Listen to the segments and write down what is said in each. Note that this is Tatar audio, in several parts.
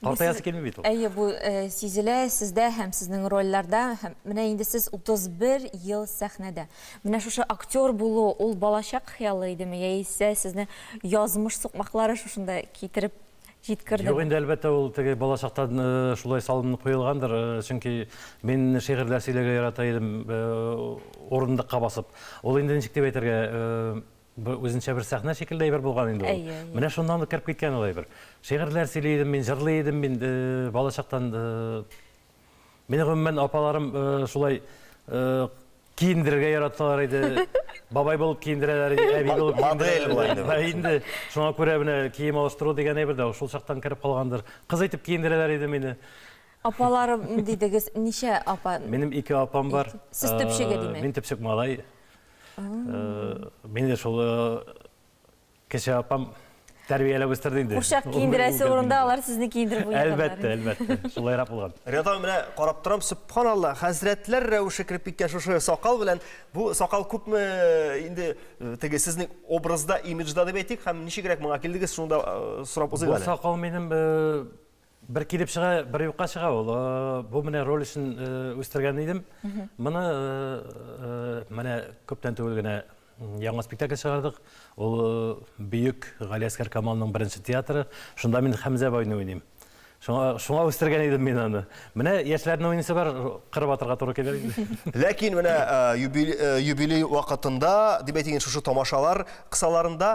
Картаясы килми бит ул. Әйе, бу э, сизелә сездә һәм сезнең рольләрдә. Һәм менә инде сез 31 ел сәхнәдә. Менә шушы актер булу, ул балачак хыялы идеме, яисә сезне язмыш сукмаклары шушында китереп җиткерде? Юк, инде әлбәттә ул теге балачактан э, шулай салынып куелгандыр, э, чөнки мин шигырьләр сөйләргә ярата идем, э, урындыкка басып. Ул инде ничек дип әйтергә, э, Бу үзенчә бер сәхнә шикелле әйбер булган инде ул. Менә шуннан ук кереп киткән ул әйбер. Шигырьләр сөйли идем мин, җырлый идем мин балачактан. Мине гомумән апаларым шулай киендерергә яраталар иде. Бабай булып киендерәләр иде, әби булып киендерәләр. Модель инде. Шуңа күрә менә кием алыштыру дигән әйбер дә шул чактан кереп калгандыр. Кыз итеп киендерәләр иде мине. Апаларым дидегез, ничә апа? Минем ике апам бар. Сез төпчеге димәк. Мин төпчек малай. Мин дә шул кеше апам тәрбияләп үстерде инде. Курчак киендерәсе урында алар сезне киендереп уйнадылар. Әлбәттә, әлбәттә. Шулайрак булган. Рядом менә карап торам, субханалла, хәзрәтләр рәвеше кереп киткән шушы сакал белән. Бу сакал күпме инде теге сезнең образда, имиджда дип әйтик, һәм ничегрәк моңа килдегез, шуны да сорап узыйк әле. Бу сакал минем Бер килеп чыга, бер юкка чыга ул. Бу менә роль өчен үстергән идем. Моны менә күптән түгел генә яңа спектакль чыгардык. Ул бөек Галиәскәр Камалның беренче театры. Шунда мин Хәмзә байны уйныйм. Шуңа, шуңа үстергән идем мин аны. Менә яшьләрнең уйныйсы бар, кырып атырга туры килер. Ләкин менә юбилей вакытында, дип әйтик, шушы тамашалар кысаларында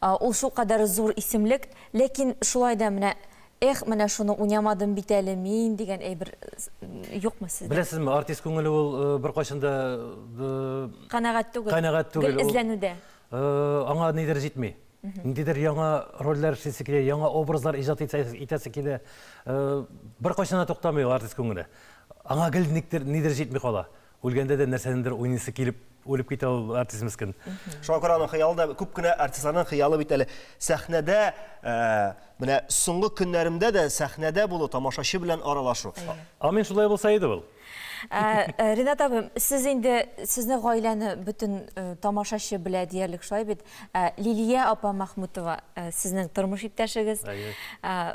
Ул шулкадәр зур исемлек, ләкин шулай да менә Эх, менә шуны уйнамадым бит әле мин дигән әйбер юкмы сездә? Беләсезме, артист күңеле ул беркайчан да канәгать түгел. Канәгать түгел. Гел эзләнүдә. Аңа нидер җитми. Ниндидер яңа рольләр эшлисе килә, яңа образлар иҗат итәсе килә. Беркайчан да туктамый ул артист күңеле. Аңа гел нидер җитми кала. Үлгәндә дә нәрсәнендер уйныйсы килеп үлеп китә ул артист мескен. Шуңа күрә аның хыялы да күп кенә артистларның хыялы бит әле сәхнәдә ә, менә соңгы көннәремдә дә сәхнәдә булу, тамашачы белән аралашу. Амин шулай булса иде ул. Ә, Ринат абым, сез инде сезне гаиләне бөтен э, тамашачы белә диярлек шулай бит. Ә, Лилия апа Махмутова э, сезнең тормыш иптәшегез. Әйе. Ә,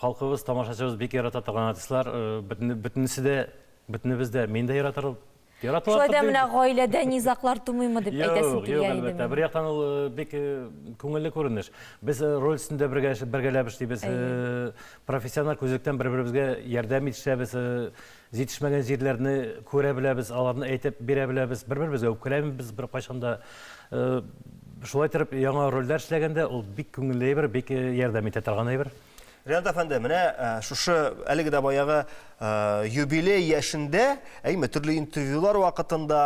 Халкыбыз, тамашачыбыз бик ярата торган артистлар, бөтенесе дә, бөтенебез дә, мин дә яратырбыз. Шулай да менә гаиләдә низаклар тумыймы дип әйтәсем килә иде. Юк, юк, әлбәттә. Бер яктан ул бик күңелле күренеш. Без роль өстендә бергәләп эшлибез, профессиональ күзлектән бер-беребезгә ярдәм итешәбез, Җитешмәгән җирләрне күрә беләбез, аларны әйтеп бирә беләбез, бер-беребезгә үпкәләмибез беркайчан да. Шулай итеп, яңа рольдә эшләгәндә ул бик күңелле әйбер, бик ярдәм итә торган әйбер. Ренат әфәнде, менә шушы әлеге дә баягы юбилей яшендә, әйме, төрле интервьюлар вакытында,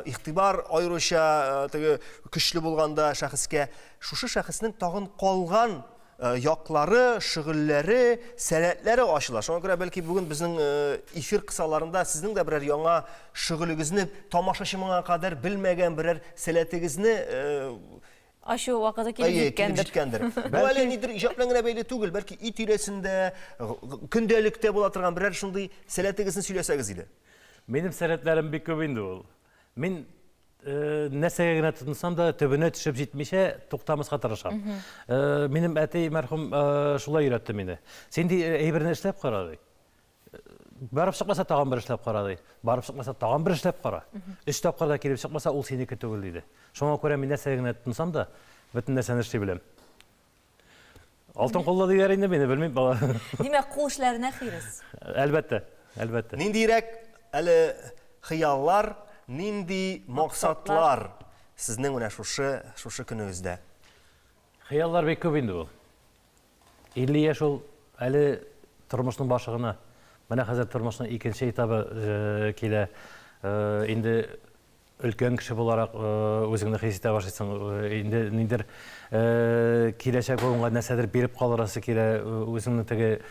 игътибар аеруча теге көчле булганда шәхескә, шушы шәхеснең тагын калган Э, яклары, шөгыльләре, сәләтләре ачыла. Шуңа күрә бәлки бүген безнең э, эфир кысаларында сезнең дә берәр яңа шөгылегезне тамашачы моңа кадәр белмәгән берәр сәләтегезне э, ашу вакыты килеп җиткәндер. җиткәндер. Бу әле нидер иҗат белән генә бәйле түгел, бәлки өй тирәсендә, көндәлектә була торган берәр шундый сәләтегезне сөйләсәгез иде. Минем сәләтләрем бик күп инде ул. Мин нәрсәгә генә тотынсам да төбенә төшеп җитмичә туктамаска тырышам минем әти мәрхүм шулай өйрәтте мине син ди әйберне эшләп кара ди барып чыкмаса тагын бер эшләп кара ди барып чыкмаса тагын бер эшләп кара өч тапкыр да килеп чыкмаса ул синеке түгел диде шуңа күрә мин нәрсәгә генә тотынсам да бөтен нәрсәне эшли беләм Алтын куллы диләр инде мине, белмим бала. Димәк, кул эшләренә хирис. Әлбәттә, әлбәттә. Ниндирәк әле хыяллар, нинди максатлар сезнең менә шушы шушы көнегездә? Хыяллар бик күп инде ул. 50 яшь ул әле тормышның башы гына. Менә хәзер тормышның икенче этабы э, килә. Э, инде Өлкән кеше буларак үзеңне хис итә башлыйсың. Инде ниндер киләчәк буынга нәрсәдер биреп калырасы килә, үзеңне теге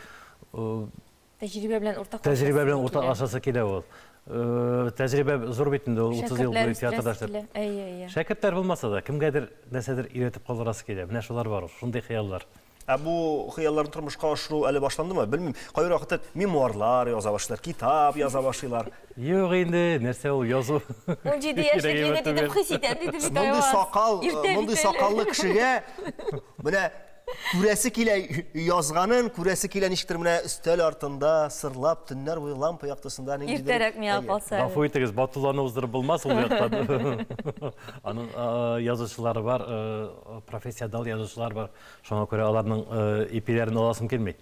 Тәҗрибә белән уртак Тәҗрибә белән уртак ашасы килә ул. Тәҗрибә зур бит инде, 30 ел буе театрда эшләп. Әйе, әйе. Шәкертләр булмаса да, кемгәдер нәрсәдер өйрәтеп калырасы килә. Менә шулар бар, шундый хыяллар. Ә бу хыялларны тормышка ашыру әле башландымы? Белмим, кайбер вакыт мемуарлар яза башлыйлар, китап яза башлыйлар. Юк инде, нәрсә ул язу. Унҗиде яшьлек егет итеп хис итәм, диде бит Айваз. Мондый сакал, мондый сакаллы кешегә менә күрәсе килә язганын, күрәсе килә ничектер менә өстәл артында сырлап төннәр буе лампа яктысында ниндидер. Иртәрәк миңа калса. Гафу итегез, батулланы уздырып булмас ул яктан. Аның язучылары бар, профессионал язучылар бар. Шуңа күрә аларның э, ипиләрен аласым килми.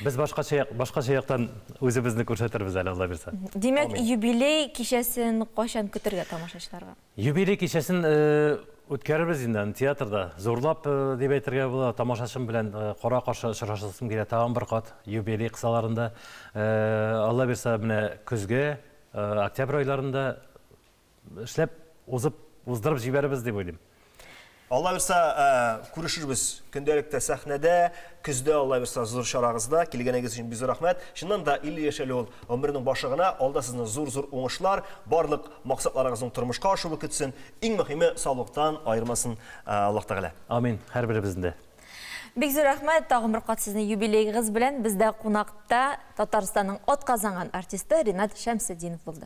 Без башкача башкача яктан үзебезне күрсәтербез әле Алла бирсә. Димәк, юбилей кичәсен кайчан көтергә тамашачыларга? Юбилей кичәсен э, үткәрербез инде театрда. Зурлап э, дип әйтергә була, тамашачым белән кара каршы очрашасым килә тагын бер кат юбилей кысаларында. Алла бирсә, менә көзге, октябрь айларында эшләп узып уздырып җибәрербез дип уйлыйм. Алла бирса, күрешербез көндәлектә сәхнәдә, көздә Алла бирса зур чарагызда. Килгәнегез өчен бик зур рәхмәт. Чыннан да 50 яшь әле ул гомернең башы гына. Алда сезне зур-зур уңышлар, барлык максатларыгызның тормышка ашуы көтсен. Иң мөһиме, саулыктан аермасын Аллаһ Тәгалә. Амин, һәрберебезне дә. Бик зур рәхмәт тагын бер кат сезне юбилейгыз белән бездә кунакта Татарстанның атказанган артисты Ренат Шәмсетдинов булды.